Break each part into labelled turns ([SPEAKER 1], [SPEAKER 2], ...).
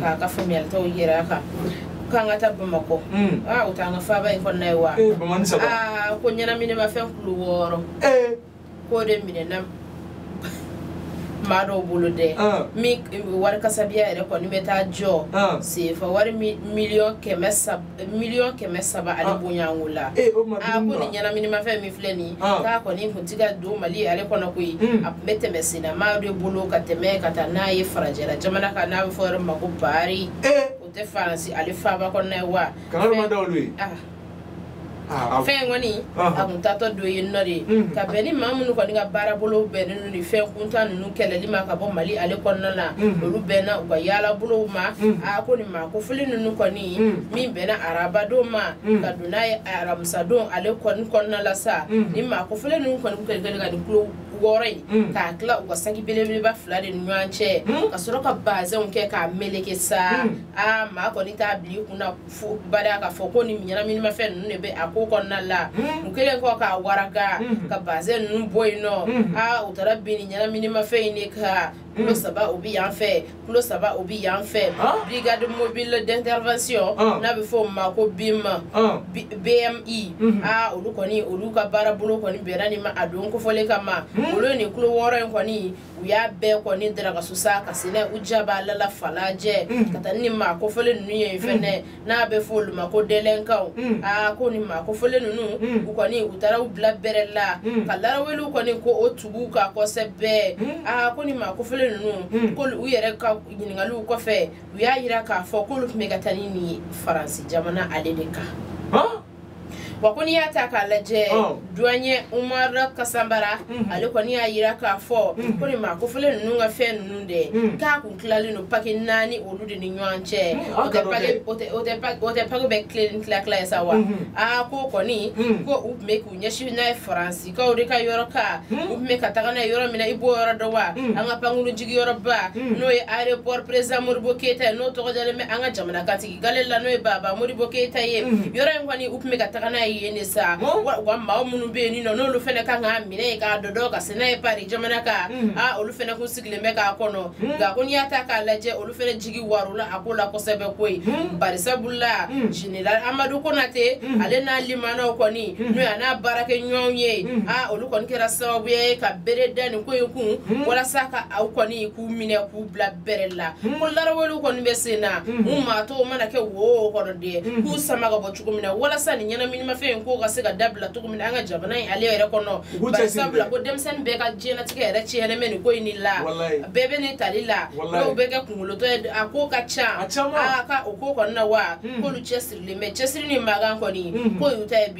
[SPEAKER 1] k'a ka faamuyalitaw yira a kan k'an ka taa bamakɔ o t'an ka faaba in kɔnɔna ye wa ko ɲɛnaminimafɛn kulo wɔɔrɔ k'o de minɛna maa dɔw bolo dɛ min wari kasabiya yɛrɛ kɔni bɛ taa jɔ sefa wari miliyɔn kɛmɛ saba miliyɔn kɛmɛ saba ale ah. bonyanko la a eh, ko ah, nin ɲɛnaminimafɛn min filɛ nin ah. k'a kɔni kun ti ka don mali ale kɔnɔ koyi hmm. a tun bɛ tɛmɛ senna maa de bolo ka tɛmɛ ka taa n'a ye farajɛla jamana kan n'a bɛ fɔ yɔrɔ ma ko pari eh. o tɛ faransi ale faaba kɔnɔna ye wa Ah, fɛn kɔni ah. a kun taatɔ don yen nɔ de mm. ka bɛn ni maa minnu kɔni ka baarabolo bɛnnen don ni fɛn kuntan ninnu kɛlɛli ma ka bɔ mali ale kɔnɔna na mm. olu bɛnna u ka yaalabolow ma a mm. ah, ko nin maa kofɔlen ninnu kɔni min bɛnna arabadon ma ka don n'a ye aramisadon ale kɔni kɔnɔna la sa ni maa kofɔlen ninnu kɔni kɛlen kɛlen ka nin kulo wɔɔrɔ in mm. k'a tila u ka saki belebeleba fila de ni ɲɔgɔn cɛ mm. ka sɔrɔ ka bazɛnw kɛ k'a meleke sa mm. aa maa kɔni t'a bila i kun na fo bada k'a fɔ ko ni ɲɛnaminimafɛn ninnu de bɛ a ko kɔnɔna la u kɛlen kɔ k'a waraka ka bazɛn ninnu bɔ yen nɔ a u taara bin ni ɲɛnaminimafɛn in de kan kulo saba o bɛ yan fɛ kulo saba o bɛ yan fɛ brigade mobile d'intervention n'a bɛ fɔ o ma ko bima bmi a olu kɔni olu ka baarabolo kɔni bɛnna nin ma a don kofɔlen kama olu ye nin kulo wɔɔrɔ in kɔni u y'a bɛɛ kɔni darakasu sa ka se n'a ye u jaba la la falajɛ mm. ka taa ni maa kofɔlen ninnu ye mm. fɛnɛ n'a bɛ fɔ olu ma ko délinquantw mm. aa ko ni maa kofɔlen ninnu u kɔni u taara u bila bɛrɛ la ka laraweliw kɔni ko o tugu kan kosɛbɛ aa ko ni maa kofɔlen ninnu k'olu u yɛrɛ ka ɲininkaliw kɔfɛ u y'a yira k'a fɔ k'olu tun bɛ ka taa ni nin faransi jamana ale de kan wa ko n'i y'a ta k'a lajɛ oh. douanier umar kasambara mhm. ale kɔni y'a yira k'a fɔ mhm. ko nin maa kofɔlen ninnu ka fɛn ninnu de mhm. k'a kun tilalen don paki naani olu de ni ɲɔgɔn cɛ o tɛ paki bɛɛ kilo ni tila tila ye sa wa aa ko kɔni ko u tun bɛ k'u ɲɛsin n'a ye faransikaw de ka yɔrɔ kan u tun bɛ ka taga n'a ye yɔrɔ min na i b'o yɔrɔ dɔn wa an ka pankurun jigiyɔrɔba n'o ye aéroport président modibo keyita ye n'o tɔgɔ dalen bɛ an ka jamanakuntigi gale la n'o ye baba modibo keyita ye mm. yɔrɔ in kɔni u tun bɛ ka taga n'a ye yen de sa wa maa minnu bɛ yen nɔ n'olu fana kan k'a minɛ yen k'a dɔdɔ ka se n'a ye pari jamana kan mm. a olu fana kun sigilen bɛ k'a kɔnɔ mm. nka ko n'i y'a ta k'a lajɛ olu fana jigi waarola a ko la kosɛbɛ koyi barisabula general amadu konate ale n'a limanaw kɔni n'o ye a n'a baarakɛ ɲɔgɔnw ye a olu kɔni kɛra sababuya ye ka bere da nin ko in kun walasa ka aw kɔni k'u minɛ k'u bila bɛrɛ la ko laraweliw kɔni bɛ sen na u maa tɔw mana kɛ wo o kɔnɔ dɛ k'u sama ka bɔ cogo min na walasa nin ɲɛnaminimafɛn in k'o ka se ka dabila cogo min na an ka jamana in ale yɛrɛ kɔnɔ bari sabula ko denmisɛnnin bɛɛ ka diɲɛnatigɛ yɛrɛ tiɲɛnen bɛ nin ko in de la bɛɛ bɛ nin tali la dɔw bɛ kɛ kunkolotɔ ye a ko ka ca a ka o ko kɔni na wa k'olu cɛsirilen bɛ cɛsiri ni magan kɔni k'o y'u ta ye bi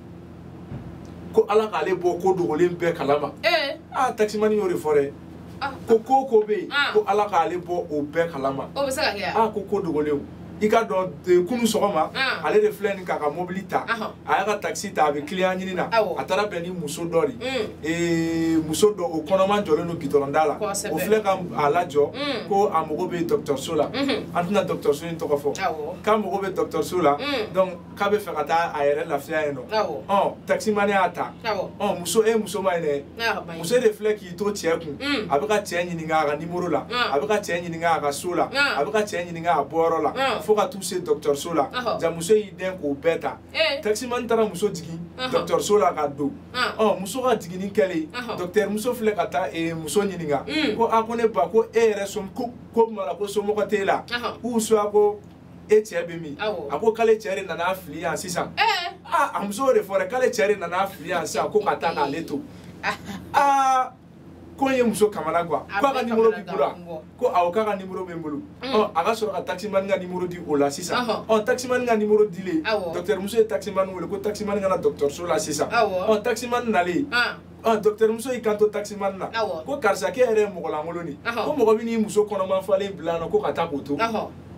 [SPEAKER 2] ko ala k'ale bɔ ko dogolen bɛɛ kalama eh. aa ah, takisimani y'o de fɔ dɛ ah. ko ko ko bɛ yen ah. ko ala k'ale bɔ o bɛɛ kalama aa ko ko dogolenw i ka dɔn eh, kunu sɔgɔma ale de filɛ nin k'a ka mobili ta a y'a ka takisi ta a bɛ kiliyan ɲini na a taara bɛn ni muso dɔ de mm. eh, muso dɔ o kɔnɔma jɔlen don gidɔrɔnda la o filɛ ka a lajɔ mm. ko a mago bɛ dɔgɔtɔrɔso la mm-hmm. an tɛna dɔgɔtɔrɔso in tɔgɔ fɔ k'a mago bɛ dɔgɔtɔrɔso la mm. donc k'a b'a fɛ ka taa a yɛrɛ lafiya yen nɔ ɔ takisimani y'a ta ɔ muso e muso ma ye dɛ muso de filɛ k'i to cɛ kun mm. a bɛ ka cɛ ɲininka a ka nimoro la a bɛ ka cɛ ɲininka a ka so la a bɛ ka cɛ ɲininka a bɔyɔrɔ la fo ka t'u se dɔgɔtɔrɔso la ja muso y'i dɛn k'o bɛɛ ta eh. takisimani taara muso jigin dɔgɔtɔrɔso la ka don ɔ muso ka jiginni kɛlen dɔgɔtɔrɔ muso filɛ ka taa eh, muso ɲininka mm. ko a ko ne ba ko e yɛrɛ som ko ko mara ko somɔgɔ t'e la ou soit ko e cɛ bɛ min a ko k'ale cɛ de nan'a fili yan sisan aa a muso de fɔra k'ale cɛ de nan'a fili yan sisan ko ka taa k'ale to aa ko in ye muso kamanagan quoi ko a ka nimoro b'i bolo wa ko awɔ k'a ka nimoro bɛ n bolo mm. ɔ a ka sɔrɔ ka taximani ka nimoro di o la sisan ɔ taximani ka nimoro dilen dɔkitɛrimuso ye taximani wele ko taximani ka na dɔkitɛriso la sisan ɔ taximani nalen ah. Ah, docteur muso y'i kanto taximani na ko karisa k'e yɛrɛ ye mɔgɔlankolon de ko mɔgɔ bɛ n'i muso kɔnɔman falen bila nɔ ko ka taa k'o to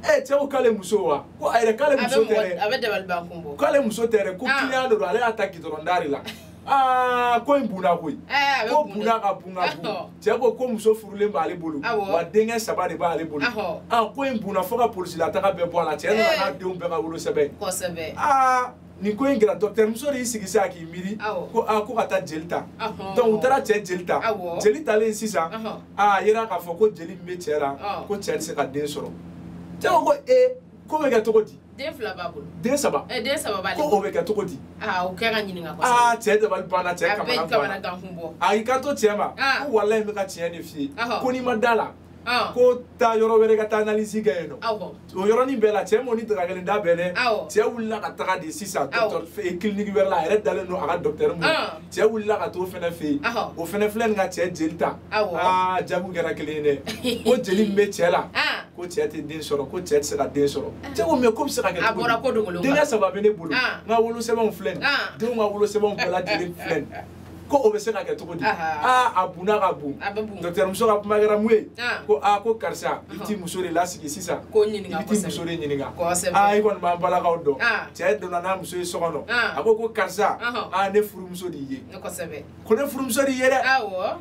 [SPEAKER 2] ee cɛ ko k'ale muso wa ko a yɛrɛ k'ale muso tɛ dɛ k'ale muso tɛ dɛ ko ah. kiliyan de don ale y'a ta gidɔrɔn da de la aa ah, ko in bunna koyi eh, ko bunna ka bun ka bun cɛ ko ko muso furulen b'ale bolo wa denkɛ saba de b'ale bolo an ko in bunna fo ka polisilataga bɛɛ bɔ a la cɛ nana n'a eh. denw bɛɛ ka wolosɛbɛn aa nin ko in kɛra dɔkitɛri muso de y'i sigi sisan k'i miiri ko aa ko ka taa jeli ta donc u taara cɛ jeli ta jeli talen sisan a yera k'a fɔ ko jeli min bɛ cɛ la ko cɛ tɛ se ka den sɔrɔ cɛ ko ko ee k'o bɛ kɛ cogo di den fila b'a
[SPEAKER 1] bolo den saba ɛ den
[SPEAKER 2] saba b'ale ko
[SPEAKER 1] o bɛ kɛ cogo
[SPEAKER 2] di aa o kɛ ka
[SPEAKER 1] ɲininka kosɛbɛ aa cɛ dabali banna cɛ
[SPEAKER 2] kamanaganna a y'i kanto
[SPEAKER 1] cɛ ma
[SPEAKER 2] ko walayi n bɛ ka tiɲɛ de f'i ye ko n'i ma da la ah. ko taa yɔrɔ wɛrɛ ka taa analyse kɛ yen nɔ ah, o yɔrɔnin bɛɛ la cɛ m'o ni dagakelen da bɛɛ dɛ ah, cɛ wulila ka taga de sisan kiliniki wɛrɛ la a yɛrɛ dalen don a ka dɔktɛri min cɛ wulila ka t'o fɛnɛ fɛ yen o fɛnɛ filɛ nin ka cɛ jeli ta aa jaa ko kɛra kelen ye dɛ ko jeli min bɛ cɛ la ko cɛ tɛ den sɔrɔ ko cɛ tɛ se ka den sɔrɔ cɛ ko mais k'o bɛ se ka kɛ cogo di denkɛ saba bɛ ne bolo n ka wolosɛbɛnw filɛ nin denw ka wolosɛbɛnw bɛɛ lajɛlen filɛ nin ko o bɛ se ka kɛ cogo di aa a bunna ka bon docteur muso ka kuma kɛra mun ye ko aa ko karisa i t'i muso de lasigi sisan i bɛ t'i muso de ɲininka aa i kɔni b'an balakaw dɔn cɛ donna n'a muso ye so kɔnɔ a ko ko karisa aa ne furumuso de y'i ye ko ne furumuso de y'i ye dɛ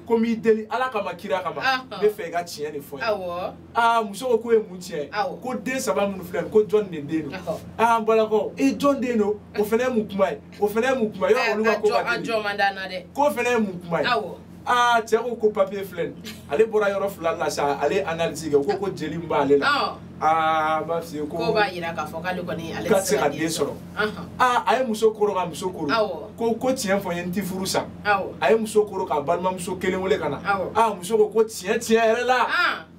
[SPEAKER 2] ko n b'i deli ala kama kira kama n bɛ fɛ i ka tiɲɛ de fɔ n ye aa muso ko k'o ye mun tiɲɛ ye ko den saba minnu filɛ ko jɔn de den don aa an balakaw e jɔn den don o fana ye mun kuma ye o fana ye mun kuma ye yɔrɔ olu ka ko ka teli a jɔ man d'an na dɛ k'o fana ye mun kuma ye awɔ aa cɛ ko ko papiye filɛ nin ale bɔra yɔrɔ fila la sa ale ye analyse kɛ o ko ko jeli min b'ale la aa b'a f'i ye ko k'o b'a yira k'a fɔ k'ale
[SPEAKER 1] kɔni ale tɛ se ka den
[SPEAKER 2] sɔrɔ aa a ye muso koro ka muso koro ko ko tiɲɛ fɔ n ye n t'i furu sa a ye muso koro k'a balimamuso kelen wele ka na aa muso ko ko tiɲɛ tiɲɛ yɛrɛ la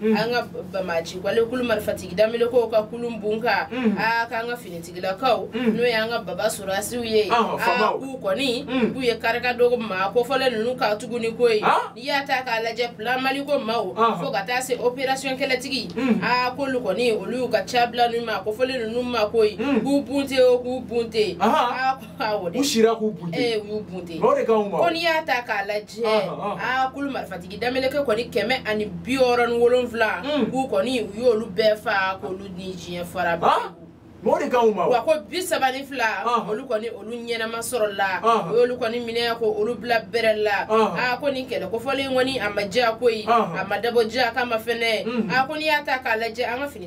[SPEAKER 1] Mm. an ka bamaji wale kulu marifatigi damelekew ka kulu bon ka mm. a k'an ka finitigilakaw mm. n'o ye an ka baba sorasiw ye ah, a k'u kɔni k'u ye karika dogo maa kofɔlen ninnu ka tuguni koyi ah. n'i y'a ta k'a lajɛ plan maliko maaw ah. fo ka taa se operasiyɔn kɛlɛtigi a k'olu kɔni olu y'u ka ca bila ninnu maa kofɔlen ninnu ma koyi k'u bunte o k'u bunte
[SPEAKER 2] u sira k'u bunte eh, u y'u bunte o
[SPEAKER 1] de kan u ma ko n'i
[SPEAKER 2] y'a ta
[SPEAKER 1] k'a lajɛ aa kulu marifatigi dameleke kɔni kɛmɛ ani bi wɔɔrɔ ni wolonfila hmm. k'u kɔni u y'olu bɛɛ fa k'olu ni diɲɛ fara bɛɛ o de kan u
[SPEAKER 2] ma wa ko bi saba ni
[SPEAKER 1] fila olu kɔni olu ɲɛnama sɔrɔla u y'olu kɔni minɛ k'olu bila bɛrɛ la a ko nin kɛlɛ kofɔlen kɔni a ma diya koyi a ma dabɔ diya kama fɛnɛ a ko n'i y'a ta k'a lajɛ an ka fini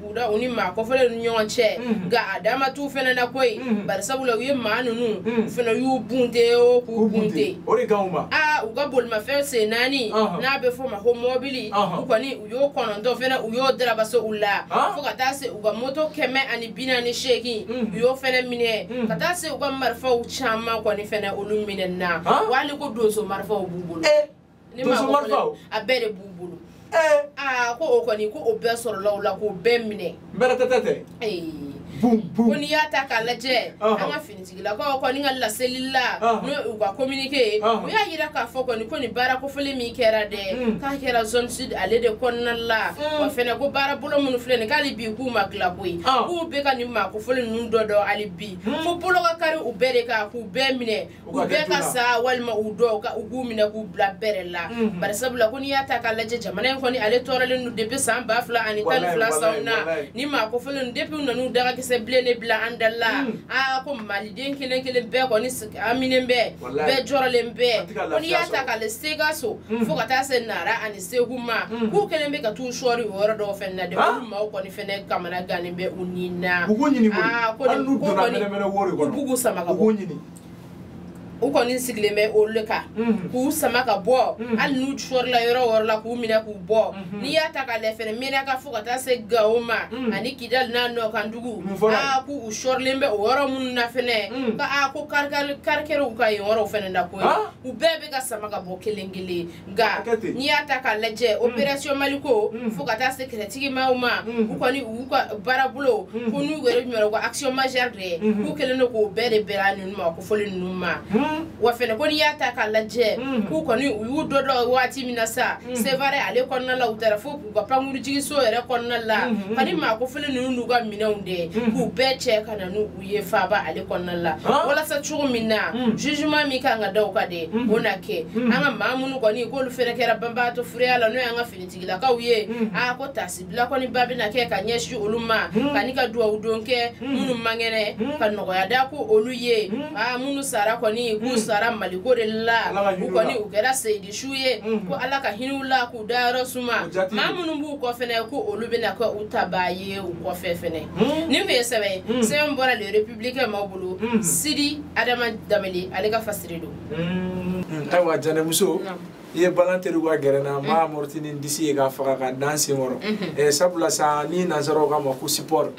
[SPEAKER 1] buda u ni maa kofɔlen ninnu ɲɔgɔn cɛ nka a dama t'u fɛnɛ na koyi bari sabula u ye maa ninnu u fɛnɛ y'u bunte o k'u bunte o de kan u ma aa
[SPEAKER 2] u ka bolimafɛn
[SPEAKER 1] sen naani n'a bɛ fɔ ma ko mɔbili u kɔni u y'o kɔnɔntɔn fɛnɛ u y'o darabaso u la fo ka taa se u ka moto kɛmɛ ani bi naani seegin u y'o fɛnɛ minɛ ka taa se u ka marifaw caman kɔni fɛnɛ olu minɛna wali ko donso marifaw b'u bolo ne ma ko
[SPEAKER 2] fɔlɔ a bɛɛ de b'u
[SPEAKER 1] bolo eh. aa ko o kɔni ko
[SPEAKER 2] o
[SPEAKER 1] bɛɛ sɔrɔla o la k'o bɛɛ minɛ
[SPEAKER 2] mɛrɛtɛtɛ tɛ ko n'i y'a ta
[SPEAKER 1] k'a lajɛ an ka finitigilakaw kɔni ka laseli la n'o u ka communiqué u y'a yira k'a fɔ kɔni ko nin baara kofɔlen min kɛra dɛ mm. k'a kɛra zone sud ale de kɔnɔna la mm. wa fɛnɛ ko baara bolo minnu filɛ nin k'hali bi k'u ma tila koyi k'u bɛ ka nin maa kofɔlen ninnu dɔ dɔn hali bi mm. fo bolo ka kari u bɛɛ de kan k'u bɛɛ minɛ u bɛɛ ka sa walima u dɔw ka u k'u minɛ k'u bila bɛrɛ la mhm. bari sabula ko n'i y'a ta k'a lajɛ jamana in kɔni ale tɔɔrɔlen don depuis san ba fila ani tan ni fila sanw na nin maa kofɔlen ninnu depuis u nan'u dagakisɛ bilen de bila an da la mhm. aa ko maliden kelen kelen bɛɛ kɔni haminen bɛ bɛɛ jɔrɔlen bɛ ko n'i y'a ta k'a lajɛ sikaso mhm. fo ka taa se nara ani segu ma mm. k'u kɛlen bɛ ka t'u sɔɔri o yɔrɔ dɔw fɛnɛ na dɛ olu maaw kɔni fɛnɛ kamana gannen bɛ u ni na u k'u ɲini ah, ko
[SPEAKER 2] hali n'u donna
[SPEAKER 1] mɛnɛmɛnɛ wo de kɔnɔ u b'u sama ka bɔ u k'u ɲini u kɔni sigilen bɛ olu le kan mm. k'u sama ka bɔ mm. hali n'u sɔrila yɔrɔ o yɔrɔ la k'u minɛ k'u bɔ mm-hmm. n'i y'a ta k'a lajɛ fɛnɛ menaka fo ka taa se gawo ma ani kidali n'a nɔkandugu aa k'u sɔrilen bɛ o yɔrɔ minnu na fɛnɛ ka a ko karikɛriw ka yen yɔrɔw fɛnɛ na koyi u bɛɛ bɛ ka sama ka bɔ kelen kelen nka n'i y'a ta k'a lajɛ mm. opération maliko mm. fo ka taa se kɛlɛtigi maaw ma mm. u kɔni u ka baarabolo ko n'u yɛrɛ ɲɔgɔn ko action majeure de ye mm-hmm. k'u kɛlen don k'o bɛɛ de bɛra ninnu ma kofɔlen ninnu ma wa fɛnɛ ko n'i y'a ta k'a lajɛ k'u kɔni u y'u dɔdɔ waati min na sa sevare ale kɔnɔna la u taara fo k'u ka pankurujigiso yɛrɛ kɔnɔna la mm-hmm. ani maa kofɔlen ninnu n'u ka minɛnw de mm-hmm. k'u bɛɛ cɛ ka na n'u u ye faaba ale kɔnɔna la walasa cogo min na hmm. jugement min kan ka da u kan de hmm. o na kɛ hmm. an ka maa minnu kɔni k'olu fɛnɛ kɛra banbagatɔ fureya la n'o y'an ka finitigilakaw ye a ko taasibila kɔni ba bɛna kɛ ka ɲɛsin olu ma ka ni ka duwawu don kɛ minnu man kɛnɛ ka nɔgɔya da ko olu ye a minnu sara kɔni k'u sara maliko de la u kɔni u kɛra seyidi su ye ko ala ka hinɛ u la k'u dayɔrɔ suma maa minnu b'u kɔ fɛnɛ ko olu bɛna kɛ u tabaa ye u kɔfɛ fɛnɛ nin tun ye sɛbɛn ye sɛbɛn bɔra le républicain maaw bolo sidi adama damele ale ka fasiri don
[SPEAKER 2] ayiwa janɛmuso i ye balɔn tɛrun ka gɛrɛ n na n b'a amorti ni n disi ye k'a faga k'a da n sen kɔrɔ sabula sa ni nansaraw k'a ma ko sipɔri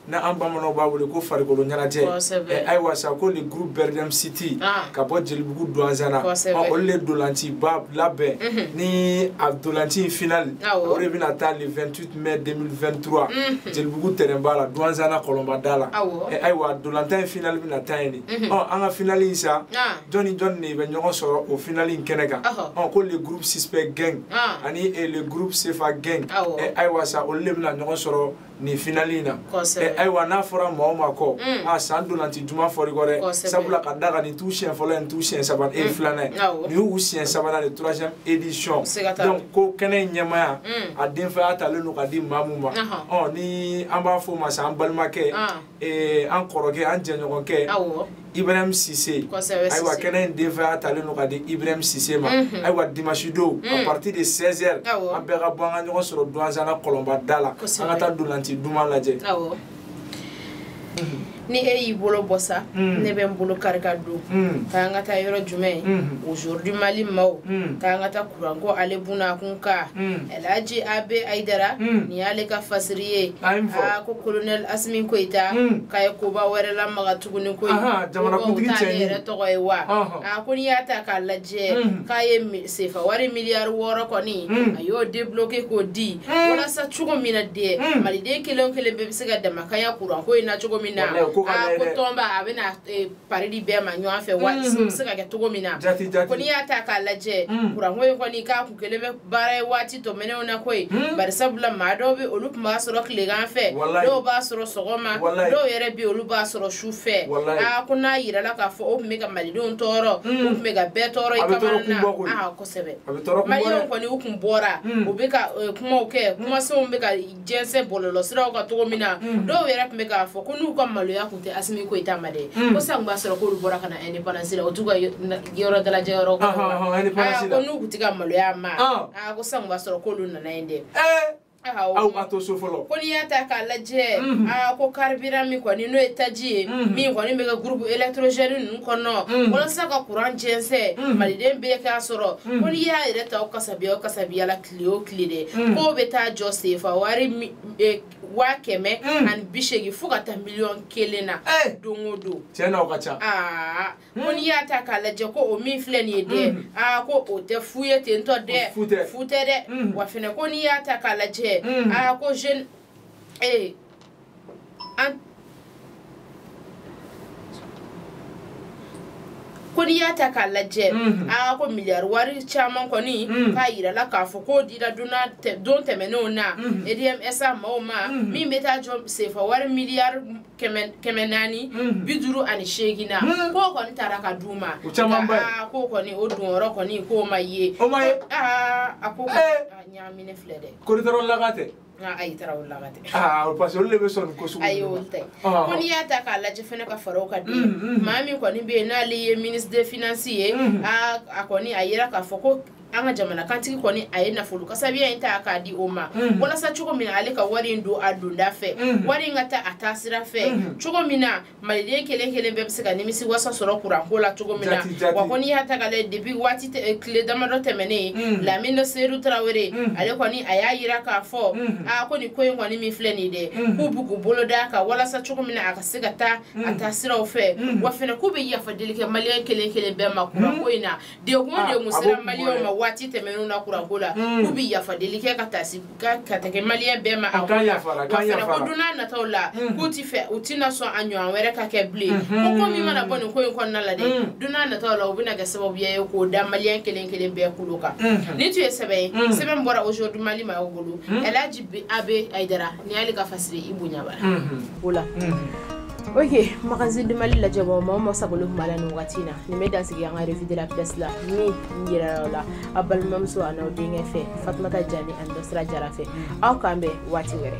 [SPEAKER 2] ni an bamananw b'a wele ko farikolo ɲɛnajɛ eh, ayiwa sa ko le groupe berdem city ah. ka bɔ jelibugu duwanzana olu le dolanciba labɛn mhm. ni a dolanci in final ah, o de bɛna taa le 28 mai 2023 mhm. jelibugu tɛrɛnba la duwanzana kɔlɔnbada la ah, eh, ayiwa dolantan in final bɛna taa yen de mhm. an ka final in sa jɔn ni jɔn de bɛ ɲɔgɔn sɔrɔ o final in kɛnɛ kan ko le groupe suspect gang ani eh, le groupe sefa gang ayiwa sa olu le bɛna ɲɔgɔn sɔrɔ nin finali in na eh, ayiwa n'a fɔra maa o maa kɔ mm. a ah, san dolanci duman fɔr'i kɔ dɛ sabula ka da kan nin t'u siɲɛ fɔlɔ ye nin t'u siɲɛ sabanan e mm. filanan ye nin y'u siɲɛ sabanan de troisième édition donc ko kɛnɛ in ɲɛmaaya mm. a denfaya talen don ka di maa min ma ɔ ni an b'a fɔ o ma sa an balimakɛ ah. eh, an kɔrɔkɛ an jɛɲɔgɔnkɛ ibrahim sise ayiwa kɛnɛ in denfaya talen don ka di ibrahim sise ma ayiwa dimanche don à mm. partir de 16 heures an bɛɛ ka bɔ an ka ɲɔgɔn sɔrɔ duwanzana kɔlɔnbada la an ka taa dolanci duman lajɛ
[SPEAKER 1] ni e y'i bolo bɔ sa mm. ne bɛ n bolo kari ka don mm. k'an ka taa yɔrɔ jumɛn mm-hmm. aujourd'hui mali maaw mm. k'an ka taa kuranko ale bunakun kan elhaji abe ayidara nin y'ale ka fasiri ye a ko kolonɛl asimi koyita k'a ye koba wɛrɛ lamaga tuguni ko jamanakuntigi
[SPEAKER 2] t'ale yɛrɛ tɔgɔ
[SPEAKER 1] ye wa a ko n'i y'a ta k'a lajɛ mm. k'a ye sefa wari miliyari wɔɔrɔ kɔni mm. a y'o debloke k'o di mm. walasa cogo min na dɛ maliden kelen o kelen bɛɛ bɛ se ka damakanya kuranko in na cogo min na a ko tɔnba a bɛna e, pari di bɛɛ ma ɲɔgɔn fɛ waati bɛ se ka kɛ cogo min na ko n'i y'a ta k'a lajɛ kuranko in kɔni k'a kun kelen bɛ baara ye waati tɛmɛnenw na koyi hmm? bari sabula maa dɔw bɛ olu tun b'a sɔrɔ tilegan fɛ dɔw b'a sɔrɔ sɔgɔma dɔw yɛrɛ bɛ olu b'a sɔrɔ su fɛ aa ko n'a yirala k'a fɔ o tun bɛ ka malidenw tɔɔrɔ o hmm. tun bɛ ka bɛɛ tɔɔrɔ i kamana na aa kosɛbɛ malidenw kɔni u tun bɔra hmm. u bɛ ka eh, kumaw kɛ kumasenw bɛ ka jɛnsɛn bɔlɔlɔsiraw kan cogo min na mm. dɔw yɛrɛ tun bɛ k'a fɔ ko n'u ka maloya tun tɛ asimi goyita ma dɛ mm. ko san b'a sɔrɔ k'olu bɔra ka na indépendance la o t'u ka yɔrɔ dalajɛ yɔrɔ ko n'u tun tɛ ka maloya ma ah. ko san b'a sɔrɔ k'olu nana yen dɛ eh. aw ma to so fɔlɔ ko n'i y'a ta k'a lajɛ mhm. aa ko carburant min kɔni n'o ye taji ye mhm. min kɔni bɛ kɛ groupe électrogène ninnu kɔnɔ mhm. walasa ka kuran jɛnsɛn maliden bɛɛ k'a sɔrɔ ko n'i y'a yɛrɛ ta o kasabiya o kasabiya la tile o tile dɛ mm. k'o bɛ taa jɔ sefa wari e, waa kɛmɛ mm. ani bi seegin fo ka taa miliyɔn kelen na eh. don o don tiɲɛ na o ka ca
[SPEAKER 2] aa mm. ko n'i
[SPEAKER 1] y'a ta k'a lajɛ ko o min filɛ nin ye dɛ aa ko o tɛ fu ye ten tɔ dɛ fu tɛ dɛ wa fɛnɛ ko n'i y'a ta k'a lajɛ aa ko jeune ee eh, ko n'i y'a ta k'a lajɛ mhm. aa ko miliyari wari caman kɔni mhm. k'a yirala k'a fɔ k'o dira don tɛmɛnenw na edmsa mhm. maaw ma min bɛ taa jɔ sefa wari miliyari kɛmɛ naani bi duuru ani seegin na k'o kɔni taara ka d'u ma aa k'o kɔni o donyɔrɔ kɔni k'o ma ye aa a ko eh. ɲaamine filɛ dɛ kori tarawelelaka tɛ
[SPEAKER 2] Ah, ayi
[SPEAKER 1] tarawelelaka tɛ ah, parce que olu de
[SPEAKER 2] bɛ sɔn nin ko sugu ayi olu tɛ ah,
[SPEAKER 1] ko n'i y'a ta k'a lajɛ fɛnɛ ka fara o kan dɛ mm, mm. maa min kɔni bɛ yen n'ale ye ministre des finances ye mm. a kɔni y'a yira k'a fɔ ko an ka jamana kantigi kɔni a ye nafolo kasabiya in ta k'a di o ma mhm. walasa cogo min na ale ka wari in don a donda fɛ mhm. wari in ka taa a taa sira fɛ mhm. cogo min na maliden kelen kelen bɛɛ bɛ se ka nimisi wasa sɔrɔ kuranko la cogo min na wa ko n'i y'a ta k'a lajɛ depuis waati eh, tile damadɔ tɛmɛnen mm. lamini seyidu tarawele mm. ale kɔni a y'a yira k'a fɔ mm. a ko nin ko in kɔni min filɛ nin dɛ k'u bɛ k'u bolo d'a kan walasa cogo min na a ka se ka taa a taa siraw fɛ wa fɛnɛ k'u bɛ yafa deli kɛ maliyɛn kelen kelen bɛɛ ma kuranko in na degun ah, degun sera maliyɛnw ma waati tɛmɛnenw na kuranko la hmm. k'u bɛ yafadeli kɛ ka taasi ka ka tɛgɛ maliyɛn bɛɛ ma a ko la wa fɛnɛ ko don n'a nataw la hmm. k'u ti fɛ u tɛna sɔn a ɲɔgɔn wɛrɛ ka kɛ bilen hmm. ko ko min mana bɔ nin ko in kɔnɔna la dɛ don n'a nataw la u bɛna kɛ sababuya ye k'o da maliyɛn kelen kelen bɛɛ kulo kan nin tun ye sɛbɛn ye sɛbɛn bɔra aujourd'hui mali maaw bolo ɛlaji abe ayidara nin y'ale ka fasiri i bonya bara o la ok magazine du mali lajɛbɔ mɔgɔ o mɔgɔ sagolen tun b'a la nin wagati in na nin bɛ dan sigi an ka revue de la presse la min yirala a balimamuso an'aw denkɛ fɛ fatumata jani ani dɔsira jara fɛ aw k'an bɛn waati wɛrɛ